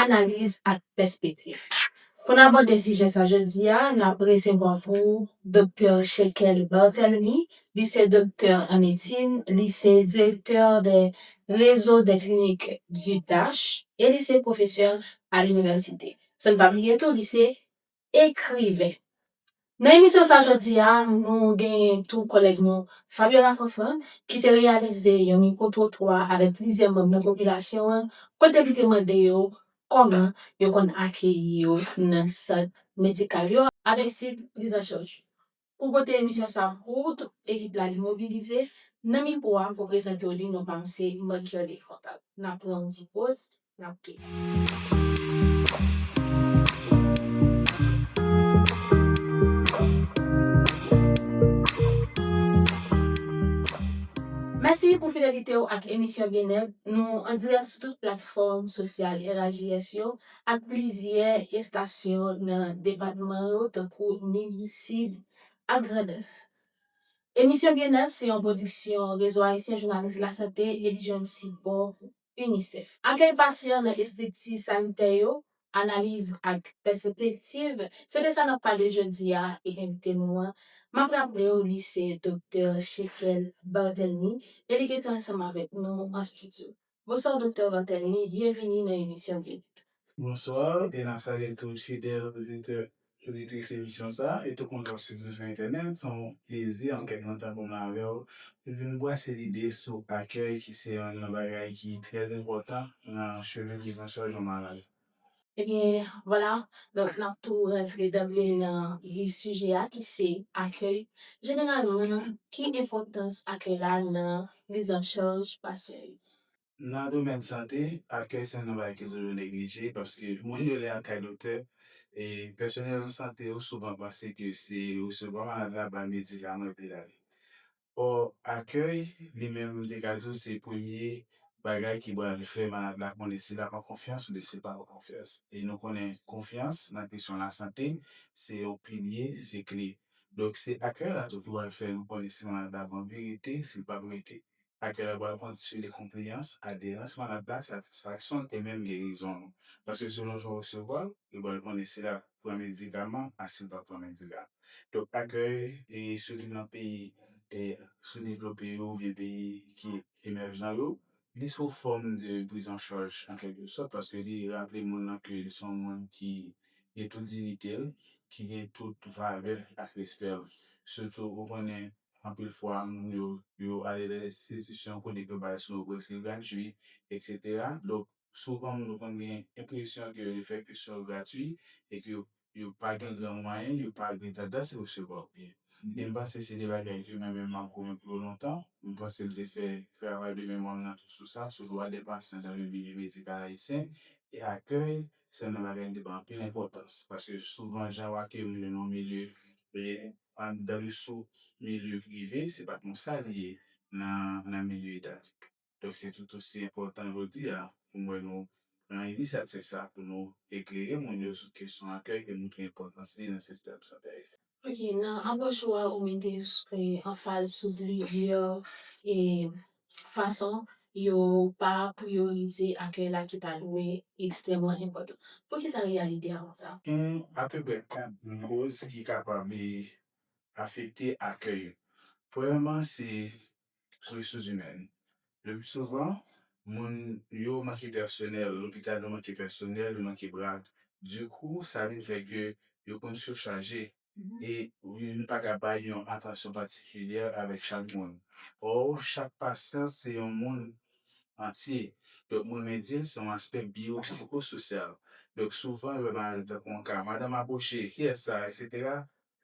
Analiz ak pèspektif. Pou n abòde sijè sa jodi a, n ap resevwa pou ou Doktè Shekel Barthelemy. Li se doktè an medsin, li se direktè de Réseau des Cliniques du Dach e li se pwofesè a linivèsite. San n pa bliye tou, li se ekriven. Nan emisyon sa jodi a, nou genyen tou kòlèg nou Fabiola Fanfan ki te reyalize yon mikwo twotwa avèk plizyè manm nan popilasyon an kote li te mande yo kòman yo konn akeyi yo nan sant medikal yo avèk sit prizanchaj yo. Pou pote emisyon sa pou ou tout ekip la li mobilize nan mikwo a pou prezante w li non pa m se Marc-Kerly Fontague n ap pran yon ti poz n ap Mèsi pou fidelite w ak emisyon Byenèt nou an dirèk sou tout platfòm sosyal RAJS yo ak plizyè estasyon nan depatman yo tankou Nin, Sid ak Grandans. Emisyon Byennèt se yon pwodiksyon Rezo Ayisyen Jounalis Lasante e li jwenn sipò UNICEF. Akèy pasyan nan estrikti sanitè yo, analiz ak pèsepektiv, se de sa n ap pale jodi a e envite nou an, m ap raple w li se Doktè Shekel Barthelmy e li gentan ansanm avèk nou an stidyo. Bonsoir Doktè Martelly, byenvini nan emisyon Guerit. Bonsoir e nap salye tout fidèl oditè oditris emisyon sa a e tout moun kap swiv nou sou entènèt se yon plezi an kèk lontan pou mwen avè w pou vin brase lide sou akèy ki se yonn nan bagay ki trè enpòtan nan chirurgie François Jean Maral. Ebyen vwala donk n ap tou rantre danble nan vif sijè a ki se akèy. Jeneralman ki enpòtans akèy la nan prizancharj pasyan yo? Nan domèn sante, akèy se youn nan bagay ki toujou neglije paske moun yo lè al kay doktè, pèsonèl sante yo souvan panse ke se resevwa malad la, bay medikaman epi l ale. Bò akèy, li menm m te ka di w se premye bagay ki pral fè malad la konnen si l ap an konfyans oubyen si l pa an konfyans. E nou konnen konfyans nan kesyon lasante se yon pilye, se kle. Donk se akèy la tou ki pral fè nou konnen si malad la ap anvi rete, si l pa p rete. Akèy la pral kondisyonnen konpleyans, aderans malad la, satisfaksyon l e menm gerizon l. Paske selon jan w resevwa l, yo pral konnen si l ap. pran medikaman asil pa pran medikaman donk akèy e sitou nan peyi e soudevlope yo oubyen peyi ki emèjan yo li sou fòm de prizanchaj an kèlke sòt paske li raple moun nan ke li son moun ki gen tout dinitel ki gen tout valè ak respèl sitou ou konnen anpil fwa moun yo yo ale nan enstitisyon kote yo bay swen preske gratui eksetera donk Souvan moun yo konn gen enpresyon ke yo fè kesyon yo gratwi e ke yo pa gen gran mwayen, yo pa gen tandans resevwa byen. E m panse se de bagay ke mwen menm m ap goumen pou yo lontan. M panse m te fè travay de memwa m nan tou sou sa, sou dwa dè pasyan dan le milye medikal ayisyen. E akèy se yon nan bagay m te bay anpil enpòtans. Paske souvan jan ou akeyi moun yo nan yon milye, dan le sou milye prive, se pa konsa li ye nan milye etatik. Donk se tout osi enpòtan jodi a pou mwen nou pran inisyativ sa pou nou eklere moun yo sou kesyon akèy ke montre enpòtans li nan sistèm sante ayisyen. Ok, nan apwòch ou a ou mete anfaz sou plizyè fason yo pa priyorize akèy la ki ta dwe ekstrèmman enpòtan. Poukisa reyalite a konsa? Gen apeprè 4 gwo koz ki kapab afekte akèy yo. Premyèman se resouzimèn. Le pli souvan, moun yo manke pèsonèl, lopital yo manke pèsonèl, yo manke bra. Dikou, sa vin fè ke yo konn sichaje e nou pa ka bay yon atansyon patikilyè avèk chak moun. Ò, chak pasyan se yon moun antye. Donk mwen renmen di l se yon aspè biyopsikososyal. Donk souvan lè maladi tankou yon ka madanm akouche, kiyès sa, eksetera,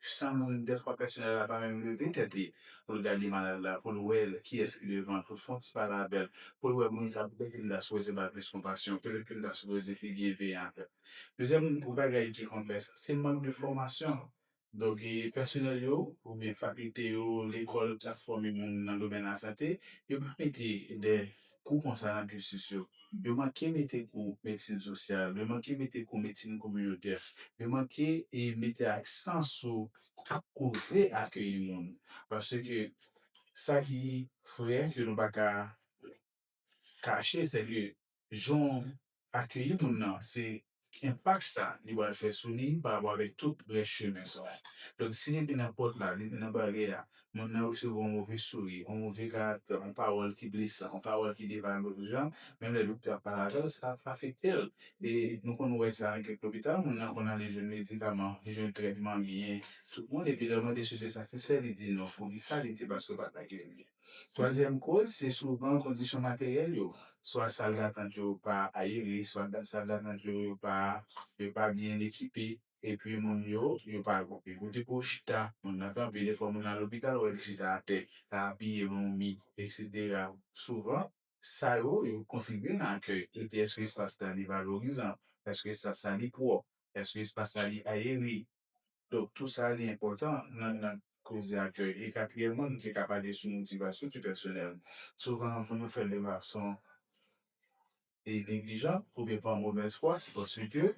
San moun dèfwa pèsonèl la pa menm leve tèt li poul gade malad la poul wè kiyès ki devan poul fon ti pale avèl poul wè moun sa poutèt li mta sipoze bal plis konpasyon poutèt ke mta sipoze pi byen veye avèl plizyè moun pou bagay ki konplèks se mank de fòmasyon donk pèsonèl yo oubyen fakilte yo lekòl kap fòme moun nan domèn lasante yo pa mete de Kou konsa nan cursus yo. Yo manke mete kou medsin sosyal, yo manke mete kou medsin kominotè, yo manke mete aksan sou koze akeyi moun. Paske sa ki vre ke nou pa ka kache se ke jan akeyi moun nan se ki enpak sa li pral fè sou li pa rapò avèk tout rès chemen sa. Donk si li te nan pòt la, li te nan baryè a, moun nan resevwa yon move souri, yon move karaktè, yon pawòl ki blesan, yon pawòl ki devalorizan, menm lè doktè a pale avè l, sa ap afekte l. E nou konn wè sa nan kèk lopital, moun nan konn ale jwenn medikaman, li jwenn trètman, li gen tout moun epi lè w mande si l te satisfè, li di non. Poukisa? Li di paske yo pa t akeyi l byen. Twazyèm koz se souvan kondisyon materyèl yo, swa sal datant yo pa ayere, swa sal datant yo yo pa yo pa byen ekipe epi moun yo yo pa gon pi kote pou yo chita, moun nan kanpe defwa moun nan al lopital wè li chita atè, ta apiye nan yon mi eksetera souvan Sa yo, yo kontribye nan akèy ete èske espas la li valorizan, èske espas la li pwòp, èske espas la li ayere. Donk tou sa li enpòtan nan nan koze akèy. E katriyèmman nou te ka pale sou motivasyon di pèsonèl. Souvan moun yo fè l de fason e neglijan oubyen pa move fwa se paske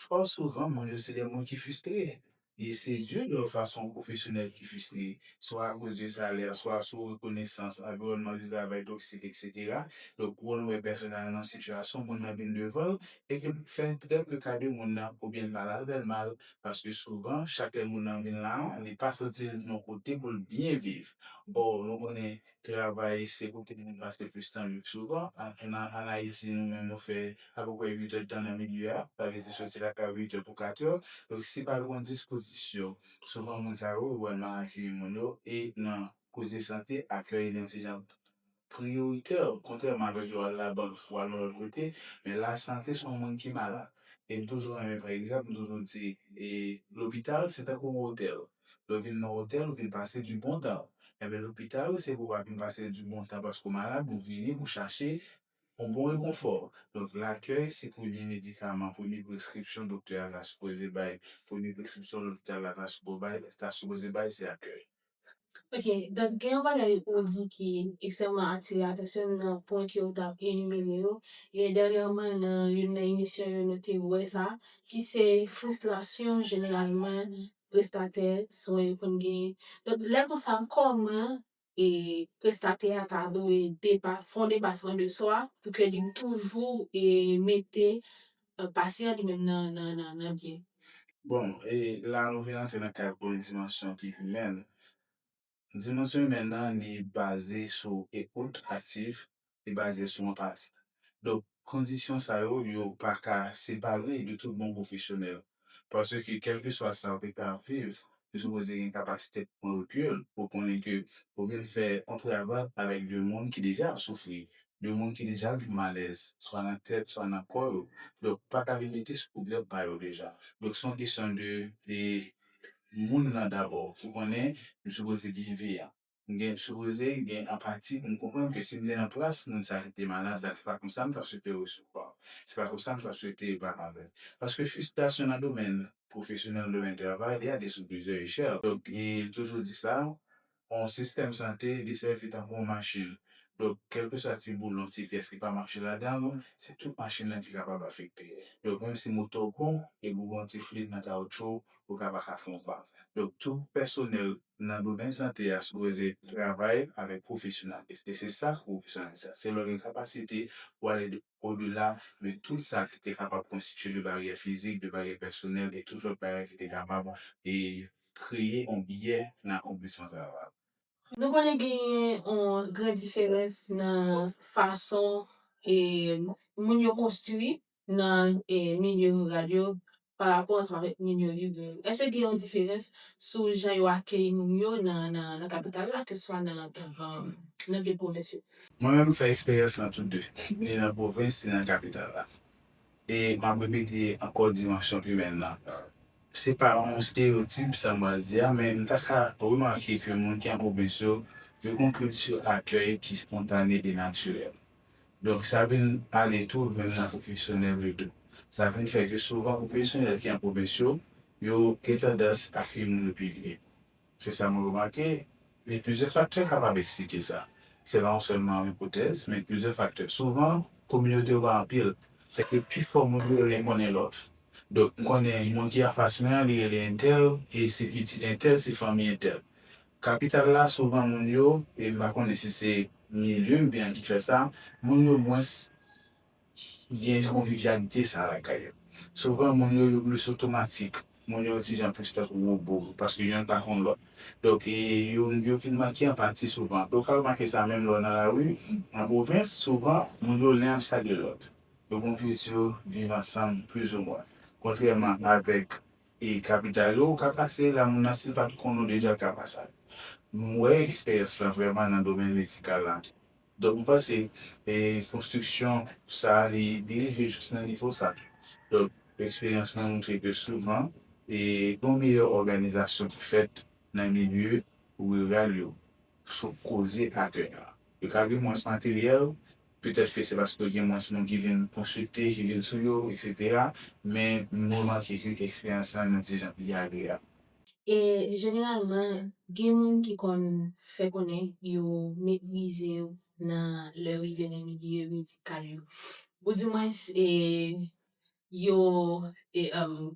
fò souvan moun yo se de moun ki fistre. e se youn lòt fason pwofesyonèl ki fistre, swa akoz de salè, swa sou rekonesans, anviwònman de travay toksik, eksetera. Donk, wè nou wè pèsonèl la nan yon sitiyasyon, moun nan vin devan l, e ke l fè trè peu ka de moun nan, oubyen l pale avè l mal, paske souvan, chak lè moun nan vin la a, li pa santi l yon kote pou l byen viv. Ò, nou konnen, Travay se pou tout moun pase plis tan li souvan. An Ayiti nou menm nou fè apeprè 8 èdtan nan milieu a, sa vle di soti lakay ou 8 è pou 4 è. Donk si pa gon dispozisyon, souvan moun sa yo ou wè nan akeyi moun yo e nan koze sante akèy li yon ti jan priyoritè kontrèman avèk lè w al labank ou al yon lòt kote. Men lasante se yon moun ki malad e m toujou renmen pa egzanp m toujou di e lopital se tankou yon otèl Lè w vin nan otèl ou vin pase di bon tan. Enben lopital ou se pou w pa vin pase di bon tan paske w malad ou vini pou w chache yon bon rekonfò. Donk lakèy se premye medikaman, premye preskripsyon doktè a ta sipoze bay, premye preskripsyon lopital la ta sipo bay, ta sipoze bay se akèy. Ok, donk gen yon bagay ou di ki ekstrèmman atire atansyon m nan pwen ke ou t ap enimere yo, e dènyèman nan youn nan emisyon yo nou te wè sa, ki se fristrasyon jeneralman prestatè swen yo konn genyen. Donk lè konsa kòman e prestatè a ta dwe depa fon depasman de swa pou ke li toujou e mete pasyan li menm nan nan nan nan byen. Bon e la nou vin antre nan kad bon dimansyon ki imèn. Dimansyon imèn nan li baze sou ekout aktif, li baze sou anpati. Donk kondisyon sa yo, yo pa ka separe de tout bon pwofesyonèl. Paske kèlkeswa sa ou te ka ap viv, ou sipoze gen kapasite pou pran rekil, pou konnen ke ou vin fè yon travay avèk de moun ki deja ap soufri, de moun ki deja ap viv malèz, swa nan tèt, swa nan kò yo. Donk pa ka vin mete sou pwoblèm pa yo deja. Donk se yon kesyon de. moun lan dabò ki konnen m sipoze byen veyan. M gen sipoze gen anpati pou m konprann ke si m te nan plas moun sa ki te malad la se pa konsa m t ap swete yo resevwa m, se pa konsa m t ap swete yo pale avè m. Paske fristrasyon nan domèn pwofesyonèl, nan domèn travay, li ale sou plizyè echèl. Donk, m toujou di sa, yon sistèm sante li sèvi tankou yon machin. Donk, kèlkeswa ti boulon, ti pyès ki pa mache ladan l, se tout machin nan ki kapab afekte. Donk, menm si moto w bon, depi w gen yon ti flit nan kawoutchou w, ou ka pa ka fè yon pa. Donk, tout pèsonèl nan domèn sante a sipoze travay avèk pwofesyonalism e se sa k pwofesyonalism la. Se lè w gen kapasite pou w ale. odela de tout sa ki te kapab konstitye de baryè fizik, de baryè pèsonèl e tout lòt bagay ki te kapab kreye yon biyè nan akonplisman travay la. Nou konnen genyen yon gran diferans nan fason moun yo konstwi nan milye riral yo pa rapò ansanm avèk moun yo viv yo? Èske gen yon diferans sou jan yo akeyi moun yo nan kapital la keseswa nan vil pwovens yo? Mwen menm m fè eksperyans nan tout de, ni nan pwovens ni nan kapital la. E m ap repete ankò dimansyon imèn nan. Se pa yon stereyotip sa m pral di a, men m ta ka remake ke moun ki an pwovens yo, yo gen yon kilti akèy ki spontane e natirèl. Donk sa vin ale tou menm nan pwofesyonèl yo tou. Sa vin fè ke souvan pwofesyonèl ki an pwovens yo, yo gen tandans akyeyi moun yo pi byen. Se sa mwen remake, men plizyè faktè kapab eksplike sa. Se pa yon sèlman yon ipotèz, men plizyè faktè. Souvan kominote yo pa anpil, se ke pi fò moun yo rele konnen lòt. Donk m konnen moun ki anfas mwen an li rele entèl e se pitit entèl, se fanmi entèl. Kapital la souvan moun yo, e m pa konnen si se milye m te an ki fè sa, moun yo mwens gen konvivyalite sa a lakay yo. Souvan moun yo yo plis otomatik, moun yo yon ti jan plis tankou wobo paske yonn pa konn lòt. Donk e yo yo vin manke anpati souvan. E w ka remake sa menm lè w nan lari an pwovens, souvan moun yo len ap salye lòt. Yo gen yon kilti viv ansanm plizoumwen. Kontrèman avèk E kapital yo ou ka pase la moun nan sil pat konn ou deja l ka pase ale. M wè eksperyans lan vrèman nan domèn medikal lan tou. Donk m panse e konstriksyon sa li li rive jis nan nivo sa tou. Donk eksperyans mwen montre ke souvan e gon meyè òganizasyon ki fèt nan milye riral yo sou koze akèy lan. Yo ka gen mwens materyèl Petèt ke se paske gen mwens moun ki vin konsilte, ki vin sou yo, eksetera, men m remake ke eksperyans lan nou di jan li agreyab. E jeneralman gen moun ki konn fè konnen yo meprize yo nan lè rive nan milye medikal yo. Ou di mwens yo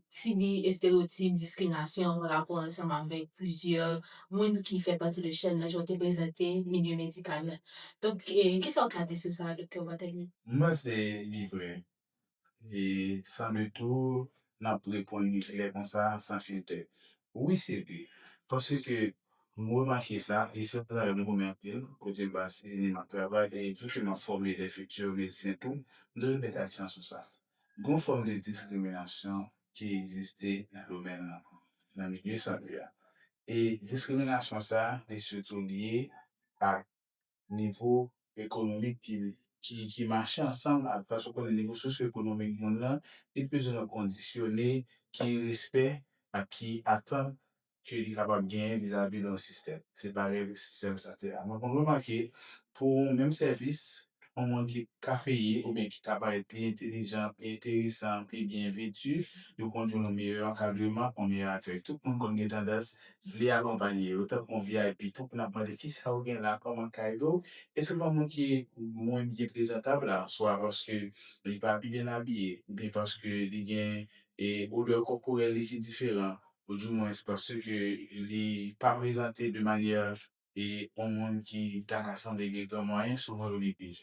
sibi estereyotip, diskriminasyon pa rapò ansanm avèk plizyè moun ki fè pati de chèn nan jan w te prezante milye medikal la. Donk, ki sa w ka di sou sa, Doktè Barthelmy? M panse li vre. E sanble tou n ap reponn li klè konsa san filtè. Wi sete, paske m remake sa e se yon travay m renmen anpil, kote m pase ane m ap travay e vu ke m ap fòme de futur medsen tou, m toujou met aksan sou sa. Gon fòm de diskriminasyon ki egziste nan domèn lan, nan milye sante a. E diskriminasyon sa li sitou lye ak nivo ekonomik ki mache ansanm ak fason w konnen nivo sosyoekonomik moun lan, li te bezwen yon kondisyone ki respè ak ki atant ke li kapab genyen vizavi yon sistèm. Se parèy pou sistèm sante a. Mwen konn remake pou yon menm sèvis, yon moun ki ka peye oubyen ki ka parèt pi entelijan, pi enteresan, pi byen veti, yo konn jwenn yon meyè ankadreman, yon meyè akèy. Tout moun konn gen tandans vle akonpanye yo tankou yon vip tou pou n ap mande kisa ou gen la kòm kado e souvan moun ki mwen byen prezantab la swa paske li pa pi byen abiye oubyen paske li gen e odè kòporèl li ki diferan ou di mwens paske li pa prezante de manyè e yon moun ki ta ka sanble gen gran mwayen souvan yo li pil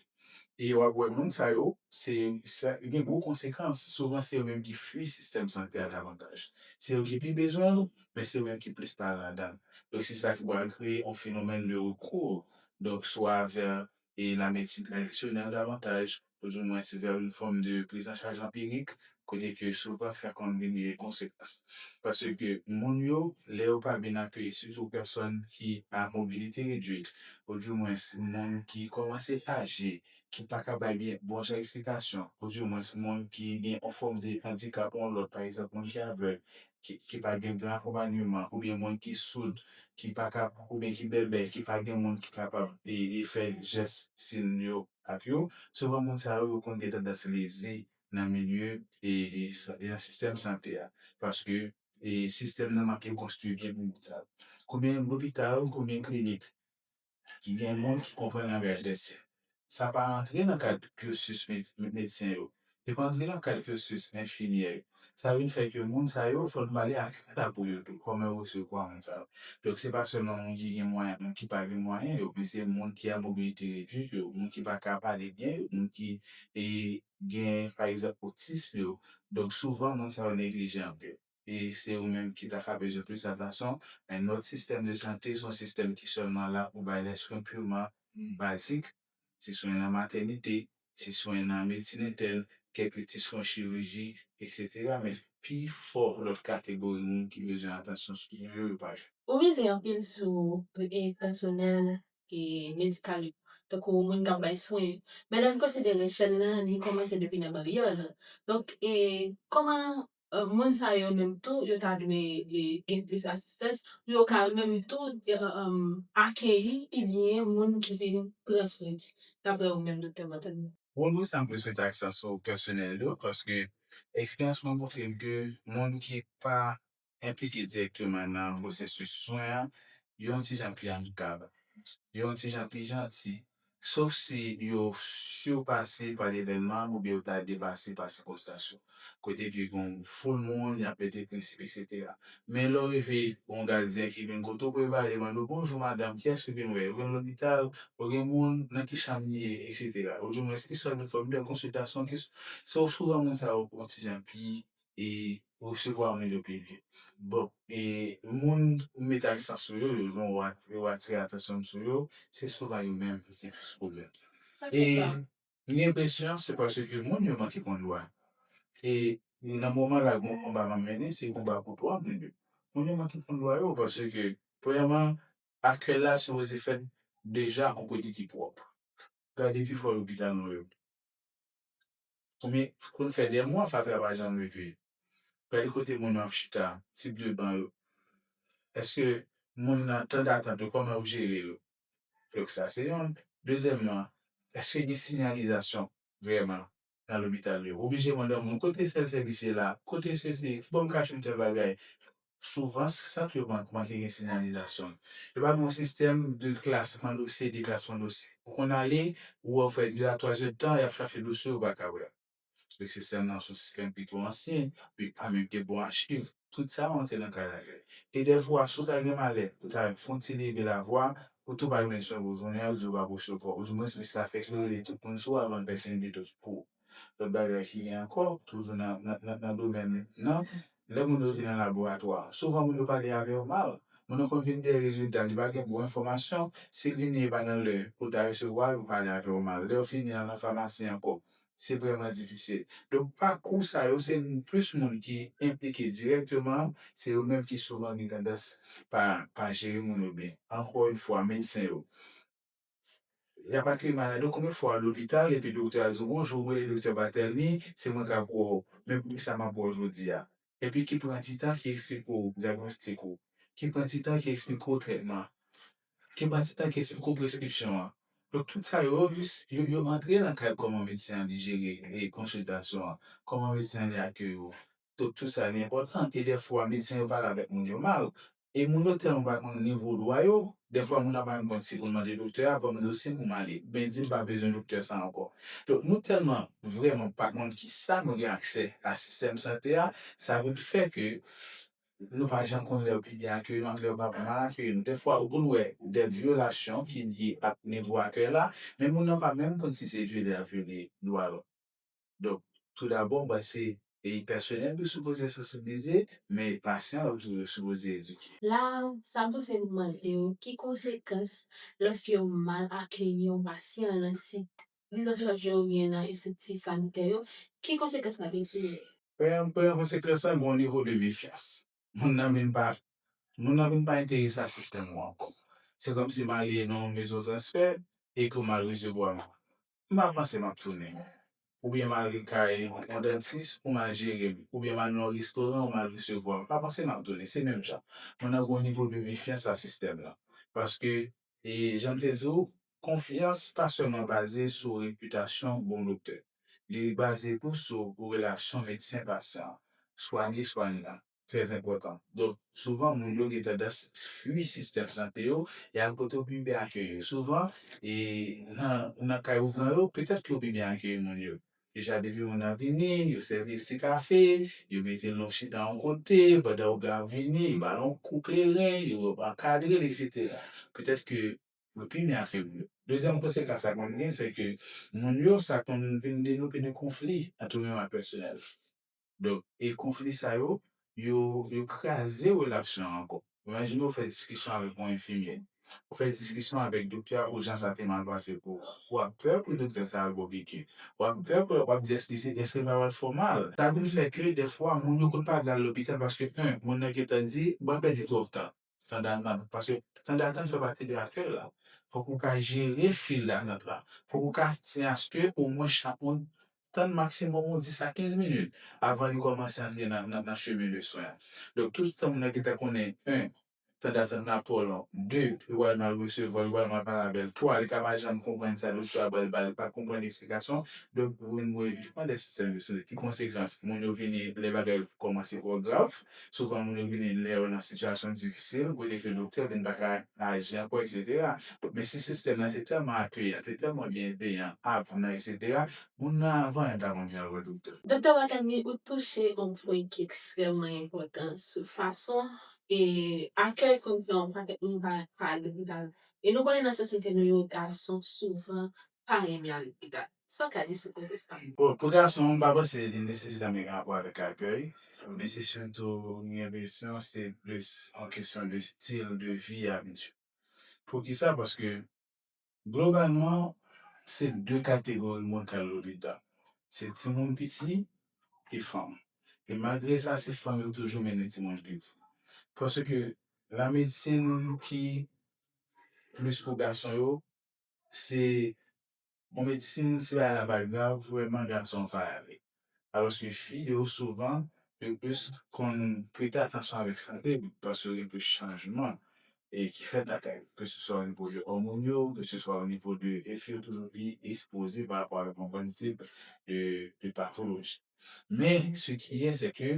e wap wè moun sa yo se sa ki gen gwo konsekans souvan se yo menm ki fwi sistèm sante a davantaj se yo ki pi bezwen l men se yo menm ki plis pale ladan l donk se sa ki pral kreye yon fenomèn de rekou donk swa vè e la medsin tradisyonèl davantaj oudimwens vè yon fòm de prizanchaj anpirik kote ke si w pa fè kòm li gen konsekans. Paske moun yo, lè yo pa byen akeyi sitou pèsòn ki a mobilite redwit oudimwens moun ki kòmanse aje ki pa ka bay byen bon jan eksplikasyon oudimwens moun ki gen yon fòm de andikap yon lòt pa egzanp moun ki avèg ki pa gen gran akonpanyeman oubyen moun ki soud ki pa ka oubyen ki bèbè ki pa gen moun ki kapab fè jès sin yo ak yo, souvan moun sa yo yo konn gen tandans lezi nan milye e nan sistèm sante a paske sistèm nan manke konstwi byen pou moun sa yo. Konbyen lopital, konbyen klinik ki gen moun ki konprann langaj lèsyèn? Sa pa antre nan kad cursus medsen yo Depandri lakay cursus enfimyè yo, sa vin fè ke moun sa yo fò nou pale ak yo ta pou yo tou kòman yo resevwa moun sa yo. Donk se pa sèlman moun ki gen mwayen ak moun ki pa gen mwayen yo, men se moun ki a mobilite redwit yo, moun ki pa ka pale byen yo, moun ki gen pa egzanp otism yo. Donk souvan moun sa yo neglije anpil. e se yo menm ki ta ka bezwen plis atansyon. Men nòt sistèm de sante se yon sistèm ki sèlman la pou bay lè swen piman bazik, ti swen nan matènite, ti swen nan medsin entèn, kèk ti swen chiriji, eksetera. Men pi fò lòt kategori moun ki bezwen atansyon sou yo yo pa jwenn. Ou mize anpil sou pèsonèl medikal yo, tankou moun k ap bay swen yo. Men lè n konsidere chèn nan li kòmanse depi nan baryè w lan. Donk, kòman moun sa yo menm tou yo ta dwe gen plis asistans pou yo ka yo menm tou akeyi pi byen moun ki vin pran swen li, daprè ou menm Doktè Montagne? Bon nou sa m plis mete aksan sou pèsonèl yo paske eksperyans mwen montre m ke moun ki pa enplike dirèkteman nan pwosesis swen an yo yon ti jan pi amikab, yo yon ti jan pi janti sof si yo sirpase pa levènman oubyen yo ta depase pa sikonstans yo, kote ke gen yon foul moun, y ap mete prensip eksetera. Men lè w rive, yon gadyen ki vin kote w pou evade mande w, bonjou madanm, kiyès ke w vin wè? Ou vin lopital? Ou gen moun? Nan ki chanm li ye? Eksetera. Oudimwens ki sòl doktè w vin fè konsiltasyon? Ki sou? Se w souvan moun sa yo pran ti jan pi e resevwa moun yo pi byen. Bon, e moun ou met a distans sou yo, yo jwenn ou ou atire atansyon m sou yo, se souvan yo menm ki gen plis pwoblèm. E m gen enpresyon se paske moun yo manke konn lwa. E nan moman la gen yon konba m ap mennen, se konba pou dwa moun yo. Moun yo manke konn lwa yo paske premyèman akèy la sipoze fèt deja yon kote ki pwòp. Gade pifò lopital nou yo. Konbyen konn fè 2 mwa fatra pa janm leve. Gade kote moun yo ap chita, tip de ban yo. Eske moun nan tan datant yo kòman yo jere yo. Donk sa se yonn. Dezyèman, eske gen sinyalizasyon vrèman nan lopital yo. Oblije mande yon moun kote sèl sèvis ye la, kote sesi, kibò m ka jwenn tèl bagay. Souvan, sant yo manke gen sinyalizasyon. Yo pa gen yon sistèm de klasman dosye, deklasman dosye. Ou konn ale, ou wè ou fè de a twa zèdtan, y ap chache dosye w, ou pa ka wè l. Donk sistèm nan se yon sistèm ki twò ansyen, li pa menm gen bon achiv. Tout sa rantre nan kay lakay. E dèfwa, si w ta gen malè, ou ta fè yon ti leve lavwa, ou tou pa jwenn swen pou jounen an, yo di w pa pou w sou kò. Oudimwens, minis la fè klere li tout moun sou avan l pèse yon detoks pou ou. Lòt bagay ki gen ankò, toujou nan domèn nan, lè moun yo vin nan laboratwa, souvan moun yo pale avè yo mal. Moun nan konn vin dèyè rezilta, li pa gen bon enfòmasyon, si li neye pa nan lè pou l ta resevwa l, yo pale avè yo mal. Lè yo fini nan nan famasi ankò, se vrèman difisil. Donk pakou sa yo, se plis moun ki enplike dirèkteman, se yo menm ki souvan gen tandans pa jere moun yo byen. Ankò yon fwa, medsen yo. Yap akèy malad yo konbyen fwa lopital epi doktè a di w bonjou mwen rele doktè Barthelmy se mwen kap wè w men poukisa map wè w jodi a epi ki pran ti tan ki esplike w dyagnostik ou ki pran ti tan ki esplike w trètman ki pran ti tan ki esplike w preskripsyon an donk tout sa yo yo antre nan kad kòman medsen an li jere konsiltasyon an kòman medsen an li akèy ou tout tout sa li enpòtan e dèfwa medsen yo pale avèk moun yo mal e moun yo tèlman pa konn nivo dwa yo dèfwa moun nan pa menm konn si pou l mande doktè a ban m dosye m pou m ale oubyen di m pa bezwen doktè sa ankò donk nou tèlman vrèman pa konn kisa nou gen aksè a sistèm sante a sa vin fè ke nou pa janm konn lè yo pi byen akeyi nou ak lè yo pa mal akeyi nou dèfwa ou konn wè dè vyolasyon ki lye ak nivo akèy la men moun nan pa menm konn si se vyole y ap vyole dwa l. Donk, tou dabò, m panse e pèsonèl yo sipoze sansibilize, men e pasyan yo tou yo sipoze edike. La a, sa pouse m mande w ki konsekans lòske yo mal akeyi yon pasyan nan sit prizanchaj yo oubyen nan estrikti sanitè yo, ki konsekans sa gen sou yo? Premye konsekans la, gen yon nivo de mefyans. Moun nan vin pa moun nan vin pa enterese a sistèm ou ankò. Se kòmsi m ale nan yon mezon transfè e ke m al resevwa m pa panse m ap tounen. Oubyen m al ri kay yon dantis pou m al jere m. Oubyen m al nan yon restoran ou m al resevwa. M pa panse m ap tounen. Se menm jan. Mwen nan yon nivo de mefyans a sistèm lan. Paske, e jan m te di w, konfyans pa sèlman baze sou repitasyon bon doktè. Li baze tou sou relasyon medsen-pasyan, swanye-swanyan. trè enpòtan. Donk, souvan moun yo gen tandans fui sistèm sante yo, y al kote yo pi byen akeyi yo. Souvan, e nan kay ou pran yo, petèt ke yo pi byen akeyi moun yo. Deja depi moun nan vini, yo sèvi l ti kafe, yo mete l yon chita yon kote, pandan yo ap vini, yo ba l yon kou kleren, yo ankadre l eksetera. Petèt ke yo pi byen akeyi moun yo. Dezyèm konsekans sa konn gen, se ke moun yo sa konn vin devlope de konfli antre yo menm ak pèsonèl. Donk, e konfli sa yo, yo yo kraze relasyon an ankò. Imajine ou fè diskisyon avèk yon enfimyè, ou fè diskisyon avèk doktè a pou jan sa te mal pase pou ou. Ou ap pè pou doktè sa al bo piki. Ou ap pè pou l, ou ap di èske se èske l pa pral fè w mal. Sa vin fè ke dèfwa moun yo konn pa vle al lopital paske 1, moun nan gentan di, mwen pèdi twòp tan. Sandal mal fèt paske sandal tan fè pati de akèy la fòk ou ka jere fil datant la fòk ou ka se aske omwen chak moun tann maksimòm yon 10 a 15 minit avan li kòmanse antre nan chemen de swen an donk tout tan moun nan gentan konnen 1 tan datant la twò long 2 li pral mal resevwa l li pral mal pale avèl 3 li ka pa janm konprann sa doktè a pral ba l li pa konprann eksplikasyon donk mwen vin wè jan de sistèm de sante ki konsekans moun yo vini lè bagay yo kòmanse twò grav. Souvan moun yo vini lè yo nan sitiyasyon difisil, kote ke doktè vin pa ka aji ankò eksetera. Men si sistèm nan te tèlman akeyan, te tèlman byenveyan avan eksetera, moun nan avan yon ta konn vin al wè doktè. Doktè Wakami, ou touche yon pwen ki ekstrèmman enpòtan sou fason e akèy konn fè yon pakèt moun pa pa lopital. E nou konnen nan sosyete nou yo gason souvan pa renmen al lopital. Sa w ka di sou koze sa? Bon, pou gason, m pa panse li nesesèman gen rapò avèk akèy, men se sitou, m gen enpresyon, se plis yon kesyon de stil de vi abityèl. Poukisa? Paske, globalman, se de kategori moun k al lopital, se timoun piti e fanm. E malgre sa, se fanm yo toujou mennen timoun piti. Paske, lamedsin ki plis pou gason yo. se yon medsin se bagay la pa grav vrèman gason an pa ale alòske fi yo souvan yo plis konn prete atansyon avèk sante yo paske yo gen plis chanjman ki fèt lakay yo ke se swa onivo de òmòn yo ke se swa onivo de e fi yo toujou pi ekspoze pa rapò avèk yon bann tip de patoloji. Men, se ki ye, se ke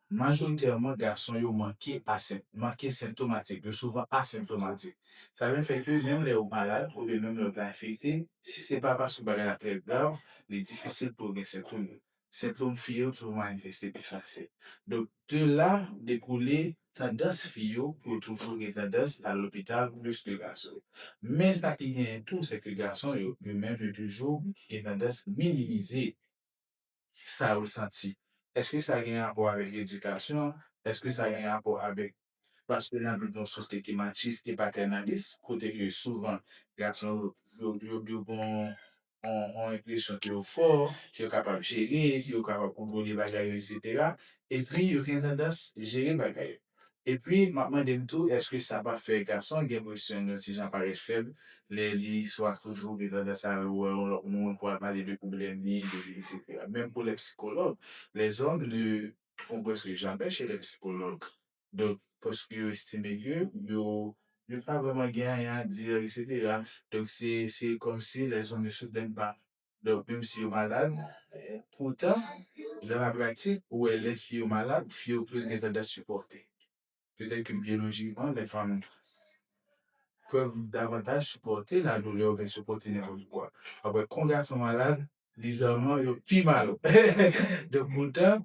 majoritèman gason yo manke asen, manke senptomatik, yo souvan asenptomatik. Sa vin fè ke menm lè ou malad oubyen menm lè ou ta enfekte, si se pa paske bagay la trè grav, li difisil pou yo gen senptom yo. Senptom fi yo toujou manifeste pi fasil. Donk, de la dekoule tandans fi yo pou yo toujou gen tandans al lopital plis ke gason yo. Men sa ki genyen tou, se ke gason yo, yo menm yo toujou gen tandans minimize. Kisa yo santi? Eske sa gen rapò avèk edikasyon? Eske sa gen rapò avèk paske n ap viv nan yon sosyete ki matchis e patènalis, kote ke souvan gason yo gen yon enpresyon ke yo fò, ke yo kapab jere, ke yo kapab kontwole bagay yo, eksetera, epi yo gen tandans jere bagay yo? Epi map mande m tou eske sa pa fè gason gen presyon yon ti jan parèt fèb lè li swa toujou gen tandans al wè yon lòt moun pou al pale de pwoblèm li etsetera. Menm pou lè psikològ, lèzòm ne vont preske jamè chè lè psikològ donk paske yo estime ke yo yo pa vrèman gen anyen a di etsetera donk se se kòmsi lèzòm yo soudènman Donk menm si yo malad, poutan nan la pratik ou wè lè fi yo malad, fi yo plis gen tandans sipòte. Petèt ke byolojikman lè fanm pèv davantaj sipòte ladoulè oubyen sipòte nenpòt kwa. Alò kon gason malad, bizarman yo pi mal. Donk poutan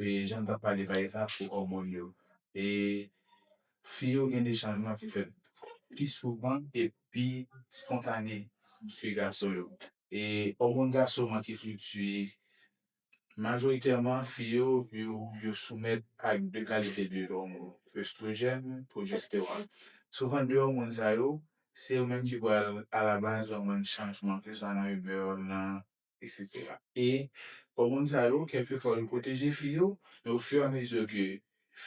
e janm tap pale bagay sa sou òmòn yo e fi yo gen de chanjman ki fèt pi souvan e pi spontane ke gason yo e òmòn gason man ki fliktiye majoritèman fi yo yo soumèt ak de kalite de òmòn estwojèn pwojestewòn souvan de òmòn sa yo se yo menm ki pral alabaz òmòn chanjman keswa nan imè yo nan eksetera. E kò moun sa yo, kèlkefwa yo pwoteje fi yo, men ofiramezi ke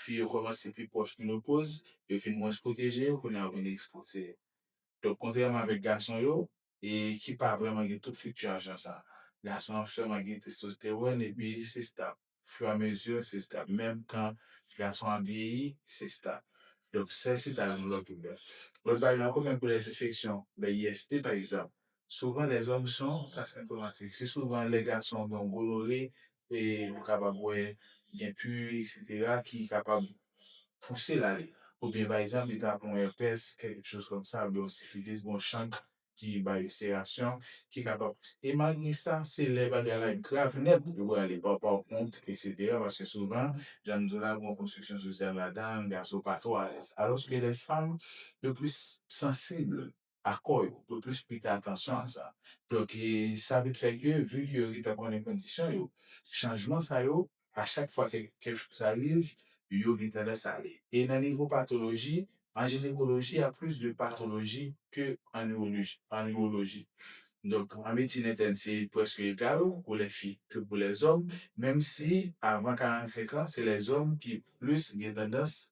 fi yo kòmanse pi pwòch menopoz, yo vin mwens pwoteje, kounye a yo vin ekspoze. Donk kontrèman avèk gason yo, e ki pa vrèman gen tout fliktyasyon sa. Gason an sèlman gen testostewòn epi se stab. fiyamezi sista menm tan gason ap vyeyi sista donk sè sita yon lòt koulè lòt bagay ankò menm pou lè enfeksyon lè IST pa egzanp souvan lèzòm son asentomatik se souvan lè gason gen yon golore e ou kapab wè gen pu essetera ki kapab pousel ale oubyen pa egzanp li ta pran yon èpès kèlke choz kòm sa oubyen yon sifilis oubyen yon chank ki bay ispirasyon, ki kapab e malgre sa se lè bagay la grav nèt yo prale papaw kont eksetera paske souvan jan m di w la gon konstriksyon sosyal ladan gason pa twò alèz alòske lè fanm yo plis sansib a kò yo, yo plis prete atansyon a sa donk sa vin fè ke vi ke yo gentan konnen kondisyon yo chanjman sa yo A chak fwa ke kèk chòs ariv, yo gen tandans ale. E nan nivo patoloji, an jinekoloji ya plis de patoloji ke an iwoloji, an iwoloji. Donk an medsin entèn se prèske egal pou lè fi ke pou lè zòm, menm si avan 45 an se lè zòm ki plis gen tandans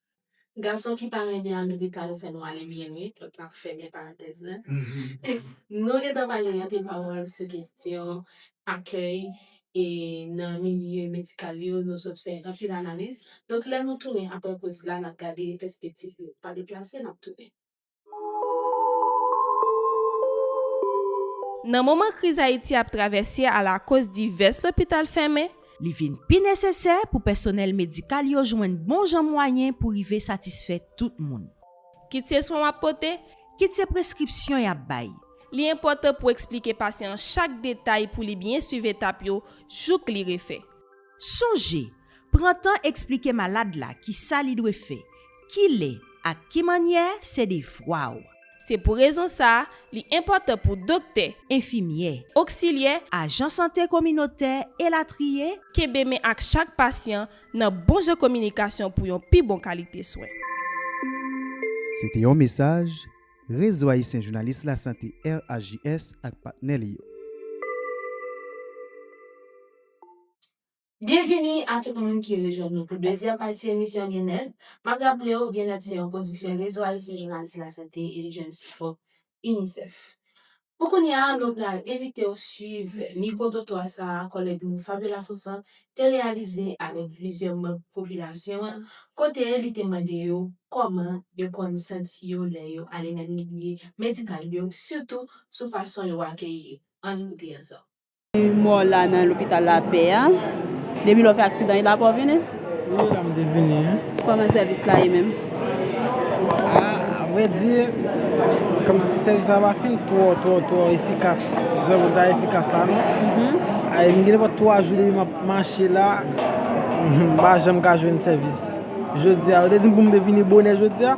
Gason ki pa renmen America al fè nwa li byen wi lòt la ap fèmen parantèz la Nou gentan pale anpil pawòl sou kestyon akèy e nan milye medikal yo nou sot fè anpil analiz donk lè nou tounen aprè poz la nap gade pèspektif yo pa deplase nap tounen. Nan moman kriz Ayiti ap travèse alakoz divès lopital fèmen, li vin pi nesesè pou pèsonèl medikal yo jwenn bon jan mwayen pou rive satisfè tout moun. Kit se swen w ap pote. Kit se preskripsyon y ap bay. Li enpòtan pou eksplike pasyan an chak detay pou li byen suiv etap yo jouk li refè. Sonje, Pran tan eksplike malad la kisa li dwe fè, kilè ak ki mannyè se devwa w. Se pou rezon sa a, li enpòtan pou doktè. Enfimyè. Oksilyè. Ajan sante kominotè, elatriye. Kenbe men ak chak pasyan nan bon jan kominikasyon pou yon pi bon kalite swen. Se te yon mesaj Rezo Ayisyen Jounalis Lasante, RAJS, ak patnè li yo. Byenvini a tout moun ki rejwenn nou pou dezyèm pati emisyon Byenèt. M ap raple w Byenèt se yon pwodiksyon Rezo Ayisyen Jounalis Lasante e li jwenn sipò UNICEF. Pou kounye a, nou pral envite w suiv mikwo-twotwa sa a kòlèg nou Fabio Lafontant te reyalize avèk plizyè manm popilasyon an kote li te mande yo kòman yo konn santi yo lè yo ale nan milye medikal yo sitou sou fason yo akeyi. Ann koute ansanm. Mò la nan lopital la pè a. Depi lè w fè aksidan e la pa w vini? Wi e la m te vini wi. Kòman sèvis la ye menm? A vrè di, kòmsi sèvis la pa fin twò twò twò efikas jan mwen ta efikas la non. A m gen nenpòt 3 jou depi m ap mache la, m pa janm ka jwenn sèvis. Jodi a, yo te di m pou m te vini bonè jodi a.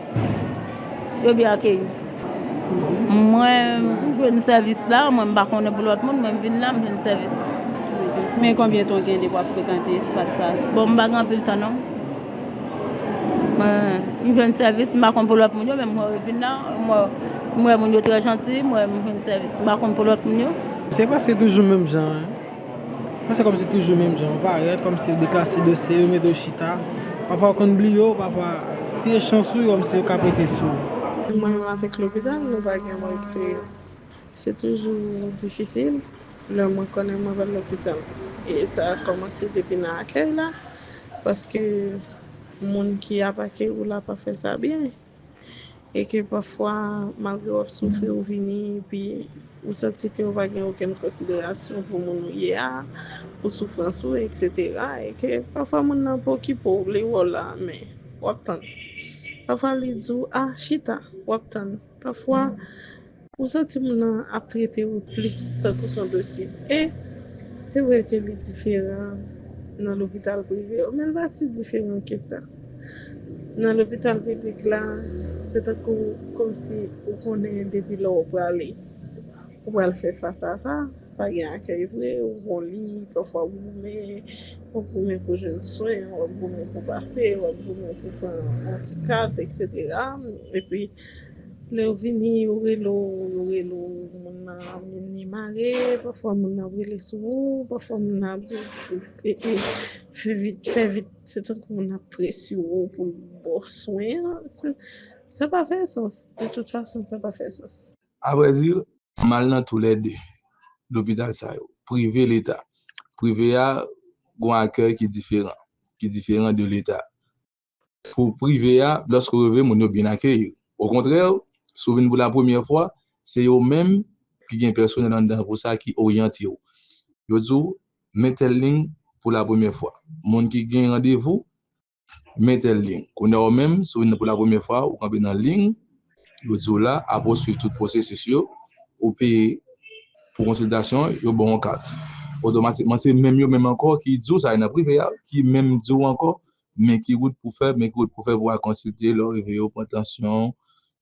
Yo byen akeyi m. Mwen jwenn sèvis la, mwen m pa konnen pou lòt moun, mwen m vin la, m jwenn sèvis. Men konbyen tan w gen depi w ap frekante espas sa? Bon, m pa gen anpil tan non. M jwenn sèvis, m pa konnen pou lòt moun yo, men mwen vin la, m wè moun yo trè janti, m wè m jwenn sèvis. M pa konnen pou lòt moun yo. Se paske se toujou menm jan an. Sa se kòmsi toujou menm jan ou parèt kòmsi ou deklase dosye yo mete ou chita pafwa ou konn bliye ou pafwa si e chans ou kòmsi yo ka pete sou ou. Mwen menm avèk lopital nou pa gen bon eksperyans se toujou difisil lè mwen konnen mwen pral lopital e sa kòmanse depi nan akèy la paske moun ki ap akeyi w la pa fè sa byen. e ke pafwa malgre w ap soufri ou vini epi ou santi ke ou pa gen okenn konsiderasyon pou moun ou ye a, pou soufrans ou eksetera e ke pafwa moun nan pa okipe w, li wè w la men w ap tann pafwa li di w a chita w ap tann pafwa. Ou santi moun nan ap trete ou plis tankou son dosye E se vre ke li diferan nan lopital prive yo men l pa si diferan ke sa Nan lopital piblik la se tankou komsi ou konnen depi lè w prale ou pral fè fas a sa Pa gen akèy vre ou gon li pafwa w goumen w ap goumen pou jwenn swen w ap goumen pou pase w ap goumen pou pran yon ti kat eksetera epi Lew vini yo rele w yo rele w moun nan min li mare pafwa moun nan ap rele sou ou pafwa moun nan ap diw ee fè vit fè vit se tankou moun nan ap prese w pou l baw swen an sa pa fè sans de tout fason sa pa fè sans. A vrè di m al nan tou lè 2 lopital sa yo prive leta prive a gon akèy ki diferan ki diferan de leta Pou prive a, lòske ou rive, moun yo byen akeyi ou. Okontrè, si ou vin pou lapremyè fwa, se yo menm ki gen pèsonèl anndan pou sa ki oryante ou. Yo di ou, Men tèl liy pou lapremyè fwa. Moun ki gen randevou, men tèl liy. Kounye a ou menm, si ou vin pou lapremyè fwa, ou kanpe nan liy yo di ou la, apre ou suiv tout pwosesis yo, ou peye pou konsiltasyon, yo ba w yon kat. Otomatikman, se menm yo menm ankò ki di ou sa e nan prive a, ki menm di ou ankò Men ki wout pou fè, men ki wout pou fè pou al konsilte lè w rive yo pran tansyon w,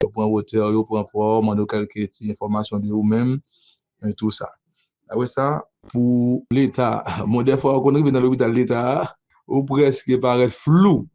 yo pran wotè w, yo pran pwa w, mande w kèlke ti enfòmasyon de ou menm e tou sa. Apre sa pou leta, bon dèfwa ou konn rive nan lopital leta a, ou prèske parèt flou,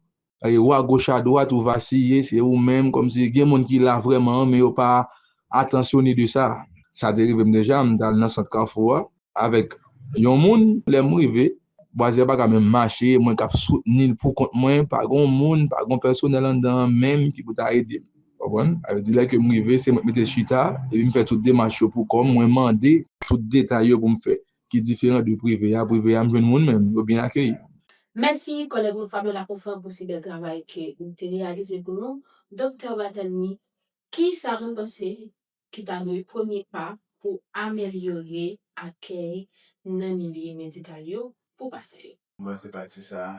e ou agoch adwat, ou vasiye, se ou menm kòmsi gen moun ki la vrèman men yo pa atansyone de sa. Sa te rive m deja, m t al nan sant Kafou a, avèk yon moun lèm rive bwazè a paka menm mache mwen kap soutnil pou kont mwen pa gon moun pa gon pèsonèl anndan an menm ki pou ta edem konprann sa vle di lè kem rive se mwen ki mete chita epim fè tout demach yo pou kòm mwen mande tout detay yo poum fè ki diferan de prive a prive a m jwenn moun menm yo byen akeyim. Mèsi kòlèg mwen Fabiola Confrère pou si bèl travay ke ou te reyalize pou nou Doktè Barthelemy kisa nou panse ki ta dwe premye pa pou amelyore akèy nan milye medikal yo pou pasyan yo. Pou pase pati sa a,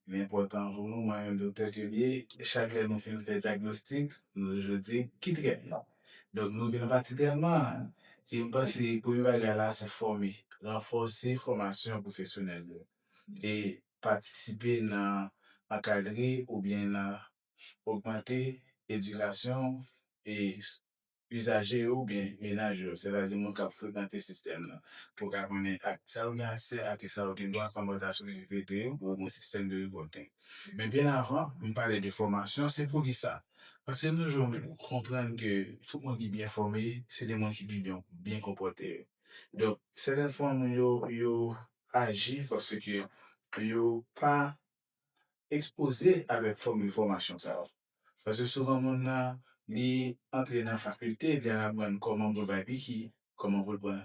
li enpòtan pou nou wè yon doktè ke li ye. Chak lè nou fin fè dyagnostik, nou toujou di, ki trètman? Donk nou vin a pati trètman an. E m panse premye bagay la se fòme, ranfòse fòmasyon pwofesyonèl yo e patisipe nan ankadre oubyen nan ogmante edikasyon e izaje yo oubyen menaj yo, sètadi moun k ap frekante sistèm nan, pou ka konnen ak sa yo gen aksè ak sa yo gen dwa kòm relasyon ki rive de yo oubyen sistèm de revòlte. Men byen avan m pale de fòmasyon, se poukisa? Paske nou jwenn konprann ke tout moun ki byen fòme se de moun ki pi byen konpòte yo. Donk, sèten fwa moun yo, yo aji paske yo pa ekspoze avèk fòm enfòmasyon sa yo. Paske souvan moun nan li antre nan fakilte, li al aprann kòman pou l bay piki, kòman pou l pran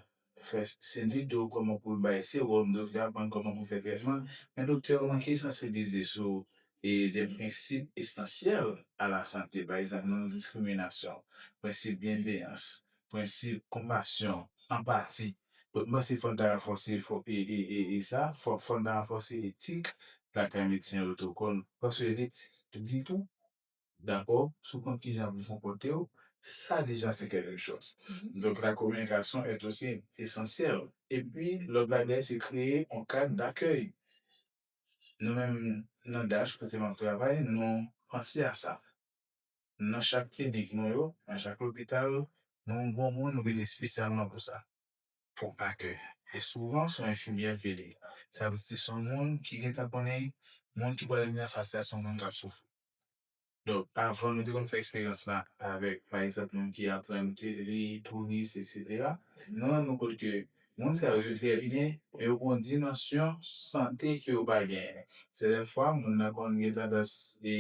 fè senvi do, kòman pou l bay sewòm, doktè ap aprann kòman pou l fè trètman, men doktè yo manke sansibilize sou de prensip esansyèl a la sante, pa egzanp non diskriminasyon, prensip byenveyans, prensip, konpasyon, anpati, mwen panse fò ta ranfòse fò e sa, fò fò ta ranfòse etik lakay medsen otokon paske li t di tou dakò sou konn kijan pou konpòte w sa deja se kèlke chòz donk la kominikasyon est aussi esansyèl epi lòt bagay se kreye on kad dakèy nou menm nan dach kote map travay nou panse a sa. Nan chak klinik nou yo, nan chak lopital, nou yon gwoup moun nou mete espesyalman pou sa, pou akèy. E souvan son enfimyè ke li ye. Sa vle di son moun ki gentan konnen moun ki pral vini anfas la son moun kap soufri. Donk avan nou te konn fè eksperyans la avèk pa egzanp moun ki aprann te li, touris eksetera. Nou rann nou kont ke moun sa yo yo trè byen men yo gen yon dimansyon sante ke yo pa genyen. Sèten fwa moun nan konn gen tandans li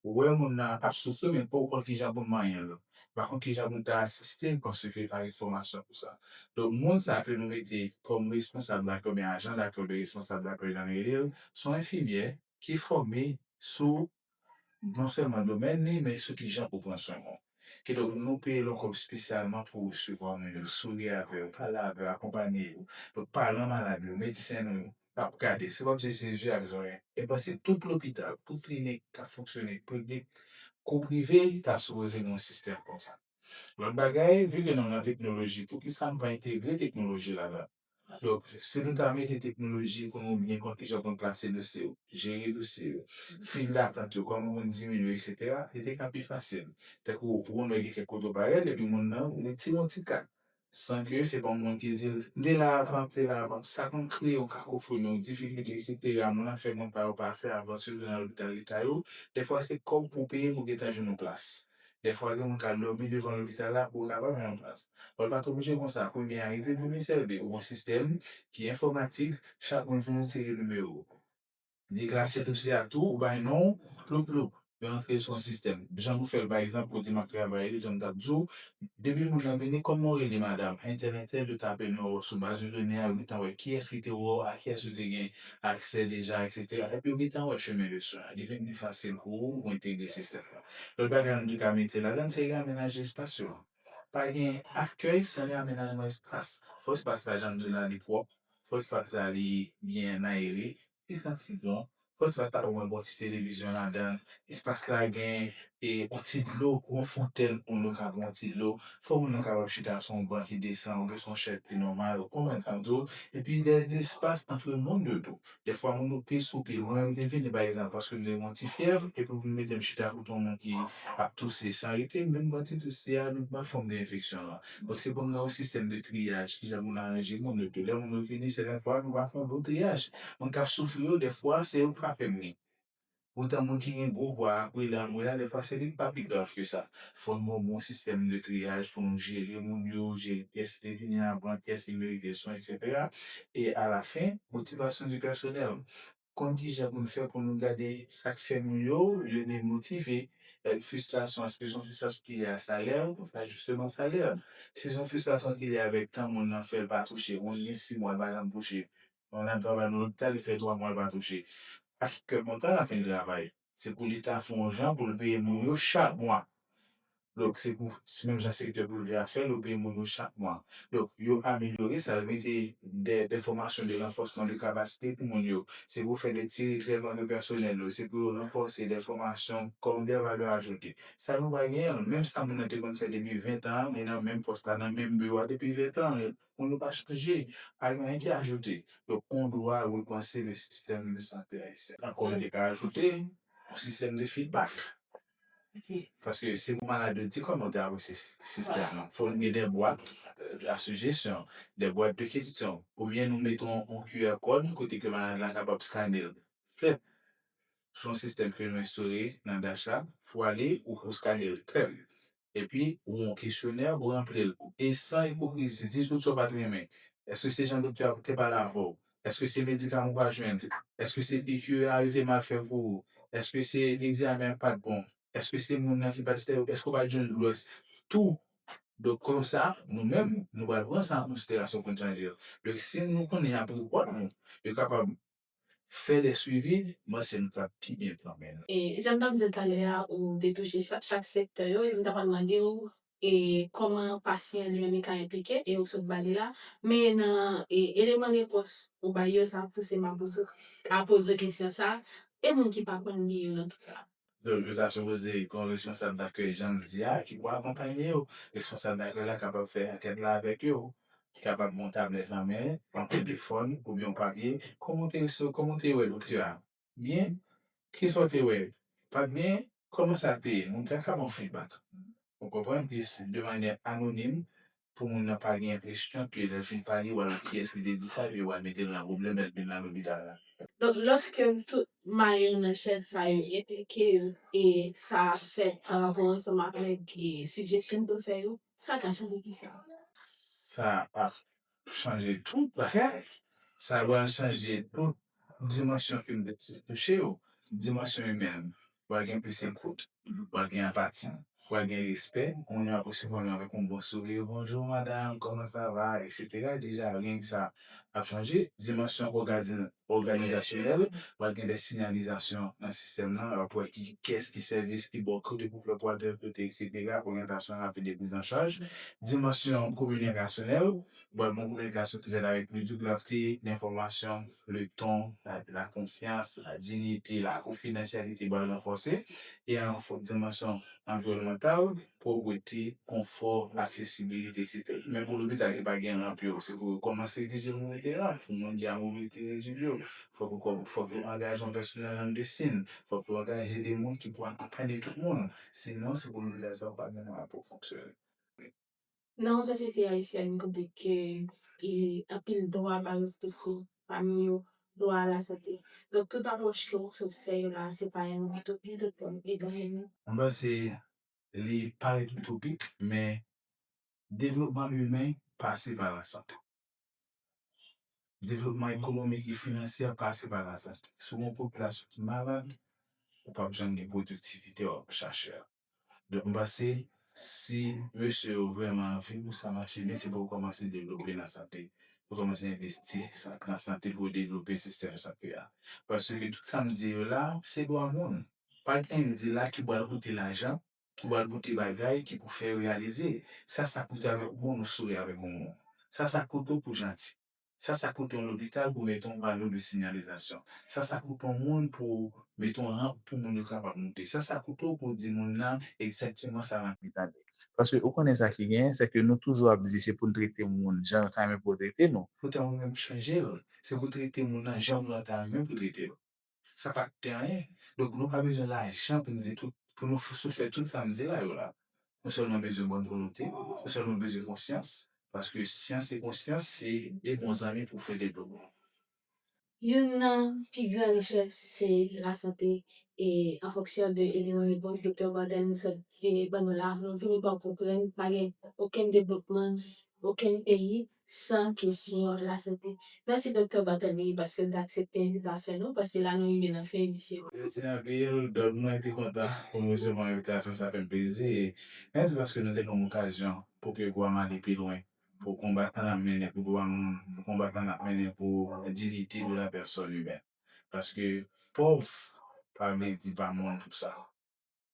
Ou wè moun nan ap soufri men pouw konn kijan poun manyenl ou pa konn kijan poun ta asistel paske pa gen fòmasyon pou sa donk moun sa ke nou mete kòm responsab lakay oubyen ajan lakay oubyen responsab lakay jan nou relel son enfimyè ki fòme sou non sèlman domèn li men sou kijan pou pran swen moun kidonk nou peyel yon kòb spesyalman pou resevwa moun yo souri avèl pale avèl akonpanye yo donk paran malad yo medsen nou yo n ap gade se kòmsi se je ak zòrèy e panse tout lopital, tout klinik k ap fonksyone piblik kou prive ta sipoze gen yon sistèm konsa. Lòt bagay, vi ke nou nan teknoloji poukisa nou pa entegre teknoloji ladan? Donk si nou ta mete teknoloji pou nou byen konn kijan pou n plase dosye yo, jere dosye yo, fil datant yo kòman pou n diminye eksetera li te ka pi fasil. Tankou ou wè gen kèk kote ou pa rèl epi moun nan retire yon ti ka San ke se pa yon moun ki di l, M te la avan, m te la avan. Sa konn kreye yon kakofoni, yon difikilte ki se te la moun lan fè moun pa yo pa fè avans yo nan lopital leta yo. Dèfwa se kòb pou w peye pou w gentan jwenn yon plas. Dèfwa gen moun k al dòmi devan lopital la pou l kapab jwenn yon plas. Lè w pa t oblije konsa, kounye a rive vini sèvi ou yon sistèm ki enfòmatik, chak moun gen yon seri nimewo. Li klase dosye a tou ou bay non ou, ploup ploup, yo antre sou yon sistèm. Jan nou fè l pa egzanp kote m ap travay yo, jan m t ap di w, depi moun nan vini, kòman w rele madam, entèlentèl yo tape non w sou baz de done a, yo gentan wè kiyès ki te wè w, a kiyès ou te gen aksè deja eksetera, epi yo gentan wè chemen de swen an. Li vin pi fasil pou ou pou entegre sistèm nan. Lòt bagay nou tou ka mete ladan se reamenaje espas yo. Pa gen akèy san reamenajman espas. Fò espas la jan m di w la li pwòp. Fosfat la li byen mayre, li pran ti don. Fosfat la omwen bon ti televizyon ladan. Espas la gen yon ti dlo, yon fontèn pou moun yo ka pran yon ti dlo. Fò moun nan kapab chita sou yon ban ki desan oubyen sou yon chèz ki nòmal, ou konprann sa m di w. Epi dèzespas antre moun yo tou. Dèfwa moun yo pe sou pye. Mwen menm m te vini pa egzanp paske m te gen yon ti fyèv epi ou vin mete m chita kote yon moun ki ap touse. San rete m vin pran ti tous li a, li pran fòm de enfeksyon lan. Donk se pou nou gen yon sistèm de triyaj, kijan pou nou aranje moun yo tou. Lè moun yo fini se lèfwa nou va fè yon bon triyaj. Moun k ap soufri yo dèfwa se yo k pa fè bri. Poutan moun ki gen gwo vwa a ap rele anmwe a dèfwa se li k pa pi grav ke sa. Fò nou gen yon bon sistèm de triyaj pou nou jere moun yo, jere pyès ki te vini avan, pyès ki merite swen eksetera e alafen motivasyon di pèsonèl. konn kijan pou n fè pou nou gade sa k fè moun yo, yo demotive. Fristrasyon an, si s on fristrasyon ki lye a salè, ou konn fè ajisteman salè. Si s on fristrasyon ki lye avèk tan moun nan fè l pa touche, moun gen si mwa l pa janm touche, moun nan travay nan lopital li fè twa mwa l pa touche, a ki kè kontan la fin travay. Se pou leta fè yon jan pou l peye moun yo chak mwa. Donk se pou menm jan sektè prive a fè l yo peye moun yo chak mwa. Donk yo amelyore sa yo mete dè fòmasyon de ranfòsman de kapasite pou moun yo. Se pou fè de ti retrèman de pèsonèl yo. Se pou yo ranfòse dè fòmasyon kòm dè valè ajoute. Sa nou pa genyen l. Menm sa moun nan te konn fè depi ventan an li nan menm pòs la nan menm biwo a depi ventan an. Pou nou pa chanje, pa gen anyen ki ajoute. Donk on dwa repanse le sistèm de sante ayisyen. Ankò mwen te ka ajoute, on sistèm de fidbak. Paske se pou malad yo di kòman yo te apresye sistèm nan. Fò nou gen de bwat a sijesyon, de bwat de kesyon. Oubyen nou mete on QR kòd kote ke malad la kapab skane l. Fèt. Son sistèm ke nou enstore nan DASH la. Fwa li ou skane l. Krèm. epi ou yon kesyonè ou ranpli l e san ipokrizi di tout sa ou pa t renmen èske se jan doktè a te pale avè w èske se medikaman ou pa jwenn èske se piki a yo te mal fè pou ou èske se egzamen an k pa t bon èske se moun nan ki pa t fè yo èske ou pa t jwenn doulè tou donk konsa nou menm nou pral pran sa an konsiderasyon pou n chanje l donk si nou konnen y ap repòt nou yo kapab Fè de swivi mwen se m tap pi byen pran men. E janm tap dil talè a ou te touche chak sektè yo e m ta pral mandew e kòman pasyan li menm li ka enplike e ou sot bali la men nan eleman repons ou bay yo sa pouse maboussou a poze kesyon sa e moun ki pa konn li yo nan tout sa. Donk, yo ta sipoze gen yon responsab dakèy, jan l di a, ki pou akonpanye yo. Responsab dakèy la kapab fè ankèt la avèk yo. Li kapab gen yon tablèt nan men l, yon telefòn oubyen yon papye. Kòman w te resevwa, kòman w te wè doktè a? Byen? Ki sa w te wè? Pa t byen? Kòman sa te ye? Moun sa kapab ba w fidbak, ou konprann, de manyè anonim, pou moun nan pa gen enpresyon ke lèl fin pale wal wè kiyès ki te di sa epi wal metel nan pwoblèm lèl vin nan lopital la. Donk lòske tout mayon nan chèn sa yo enplike yo e sa ap fèt pa rapò ansanm avèk sijesyon m te fè yo, sa ka chanje kisa? Sa pap chanje tout bagay, sa pral chanje tout dimansyon ke m te touche yo, dimansyon imèn. pral gen plis ekout, pral gen anpati, pral gen respè, moun yo ap resevwa nou avèk yon bon souri, bonjou madam, kòman sa va, eksetera, deja reng sa ap chanje, dimansyon òganizasyonèl, pral gen dè sinyalizasyon nan sistèm nan, wap wè ki kès, ki sèvis ki bò kote pou fè pou al tèl kote eksetera, oryantasyon rapid e prizanchaj, dimansyon kominikasyonèl, Bon bon kominikasyon ki fèt avèk plis doublante, lenfòmasyon, le ton, la konfyans, la diyite, la konfidansyalite pral ranfòse e an fòt dimansyon anviwònmantal, pwòprete, konfò, aksesibilite etc. Men pou lopital ki pa gen ranp yo, se pou yo kòmanse egzije pou mete ranp pou moun ki a mobilite redui yo. Fòk yo fòk yo angaje yon pèsonèl an medesin, fòk yo angaje de moun ki pou akonpanye tout moun. Sinon se pou lopital sa yo pa gen mwayen pou yo fonksyone. Nan yon sosyete ayisyèn kote ke anpil dwa pa respekte, pami yo dwa a la sante. Donk tout apwòch ke ou sot fè yo la a se pa yon itopi tout bon e dwayen nou. Mwen panse li parèt itopik men devlopman imen pase pa lasante. Devlopman ekonomik e finansyè pase pa la sante. Si w gen yon popilasyon ki malad, ou pap janm gen pwodiktivite w ap chache a. Donk m panse si mesye yo vrèman anvi pou sa mache byen, se pou yo kòmanse devlope nan sante. Pou yo kòmanse envesti nan sante pou yo devlope sistèm sante a. Paske tout sa m di yo la, se dwa moun. Pa gen m di la ki pral koute lajan. ki wal bote bagay ki pou fè reyalize sa sa koute avèk yon moun ou sore avèk yon moun sa sa koute w pou janti sa sa koute yon lopital pou mete yon pano de sinyalizasyon sa sa koute yon moun pou w mete yon ranp pou moun yo kapab moute sa sa koute w pou w di moun nan egzakteman sa ranp li pale paske ou konnen sa ki genyen se ke nou toujou ap di se pou n trete moun jan l ta renmen pou yo trete nou poutan ou menm chanje l se pou w trete moun nan jan moun nan ta renmen pou trete l. Sa pa koute anyen. Donk nou pa bezwen lajan pou nou di tout, pou nou soufè tout sa m di la yo la. Nou sèlman bezwen bòn volonte, nou sèlman bezwen konsyans, paske syans e konsyans se 2 bon zanmi pou fè devlopman. Youn nan pi gran richès se lasante e an fonksyon de eleman repons Doktè Bardel nou sot vini ban nou la, nou vini pa w konprann pa gen okenn devlopman okenn peyi San kesyon lasante. Mèsi Doktè Barthelemy paske nou t aksepte envitasyon nou paske la nou rive nan fen emisyon an. Mèsi anpil Dòk mwen te kontan pou m resevwa envitasyon sa fè m plezi e mèsi paske nou te ban m okazyon pou ke vwa m ale pi lwen pou konbat lan n ap mennen pou dwa moun pou konbat lan n ap mennen pou diyite de la pèsòn imèn paske pòv pa vle di pa moun pou sa.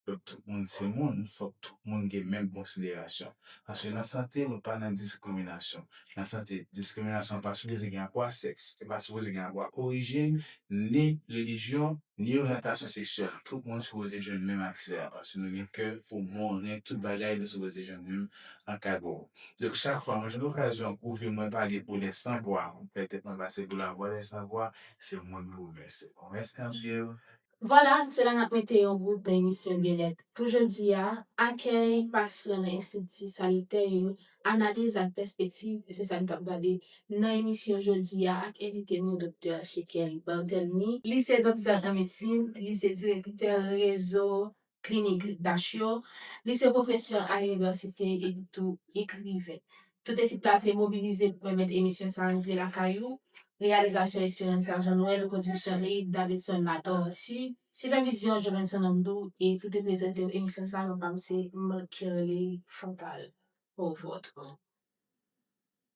Fòk tout moun se moun, fòk tout moun gen menm konsiderasyon. Paske nan sante nou pa nan diskriminasyon. Nan sante, diskriminasyon an pa sipoze gen rapò a sèks, li pa sipoze gen rapò ak orijin, ni relijyon, ni oryantasyon seksyèl. Tout moun sipoze jwenn menm aksè a. Paske nou gen kè pou moun, nou gen tout bagay, nou sipoze jwenn menm ankadrew. Donk chak fwa mwen jwenn okazyon pou vi mwen pale pou lè san vwa, mwen fè tèt mwen pase pou lavwa lè san vwa, se moun pou mwen se. Mwen salyel, Vwala, se la n ap mete yon bout nan emisyon Byennèt pou jodi a. Akèy pasyan nan estrikti sanitè yo, analiz ak pèspektiv, se sa n t ap gade nan emisyon jodi a ak envite nou Doktè Shekel Barthelmy. Li se doktè an medsin, li se direktè rezo klinik grip dach yo, li se pwofesè a inivèsite epi tou ekriven. Tout ekip la te mobilize pou pèmèt emisyon sa rive lakay ou, reyalizasyon Esperanza Jean Noël, pwodiksyon Reid Davidson Latortue, sipèvizyon Jovenson Andoo e ki te prezante emisyon sa yo pa m se Marc-Kerley Fontal. Pou vòt ou.